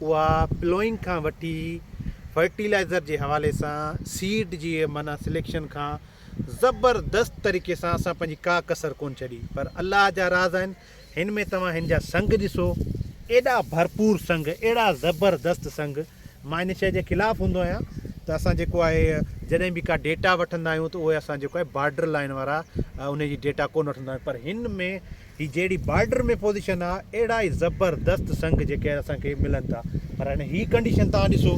اها پلوئنگ کان وٺي فرٽيلائزر جي حوالي سان سيڊ جي معنيٰ سليڪشن کان زبردست طريقي سان اسان پنهنجي ڪا ڪسر ڪونه ڇڏي پر الله جا راز آهن هن ۾ توهان هن جا سنگ ڏسو ايڏا ڀرپور سنگ اهڙا زبردست سنگ مان ان شي جي خلاف هوندو آهيان ته اسان جيڪو آهي جڏهن به ڪا ڊيٽا وٺندا آهيون ته اهي اسان جيڪو آهي بارڊر لائن وارا ان جي ڊيٽا ڪونه وٺندا آهيون پر هن ۾ هي جهڙي بارڊر ۾ پوزيشن آ اهڙا ئي زبردست سنگ جيڪي اسان کي ملن ٿا پر هاڻي هي ڪنڊيشن توهان ڏسو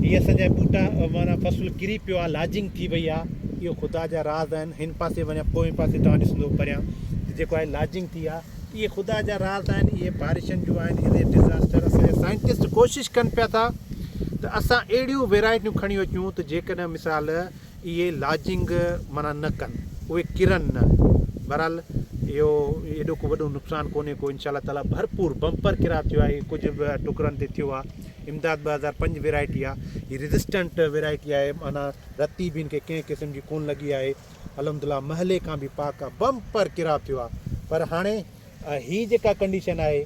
هي اسان جا ٻوٽا مانا فصل ڪري پيو آ لاجنگ ٿي وئي آ اهو خدا جا راز آهن هن پاسي وڃا پوئين پاسي توهان ڏسندو پريان ته جيڪو آهي لاجنگ ٿي آ اهي خدا جا راز آهن اهي بارشن جو آهن اهي ڊزاسٽر اسان جا سائنٽسٽ ڪوشش ڪن پيا ٿا ته اسان اهڙيون ويرائٽيون کڻي اچون ته جيڪڏهن مثال اهي لاجنگ معنيٰ نه ڪن، اهي ڪرن نه. بهرحال اهو ايڏو ڪو وڏو نقصان ڪونهي ڪو انشاء الله تعاليٰ ڀرپور بمپر ڪراء ٿيو آهي ڪجهه به ٽڪرن تي ٿيو آهي امداد ٻه هزار پنج ويرائٽي آهي هي ريزسٽنٽ ويرائٽي آهي معنيٰ رتي به هن کي ڪنهن قسم جي ڪونه لڳي آهي الحمد لله محلي کان به پاڪ آهي بمپر ڪراء ٿيو آهي پر هاڻي هي جيڪا ڪنڊيشن آهي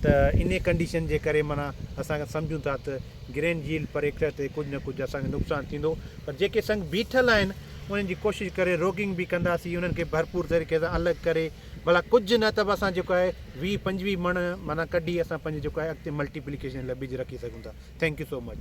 ته انهي ڪنڊيشن جي ڪري معنيٰ اسان سمجهون ٿا ته گرين جيلڊ پر ايڪٽر تي ڪجهه نه ڪجهه اسان کي نقصان ٿيندو پر جيڪي سنگ بيٺل آهن انهن جي ڪوشش ڪري روگنگ به ڪنداسين انهن کي ڀرپور طريقي سان الڳ ڪري ڀلا ڪجهه نه ته به اسان جيڪو آهي ويهه پنجويهه مڻ معنيٰ ڪڍي اسان پنهنجي جيڪو آهي اڳتي ملٽيپليڪيشن لاء ٻج رکي سگهون ٿا ٿينڪ يو سو مچ.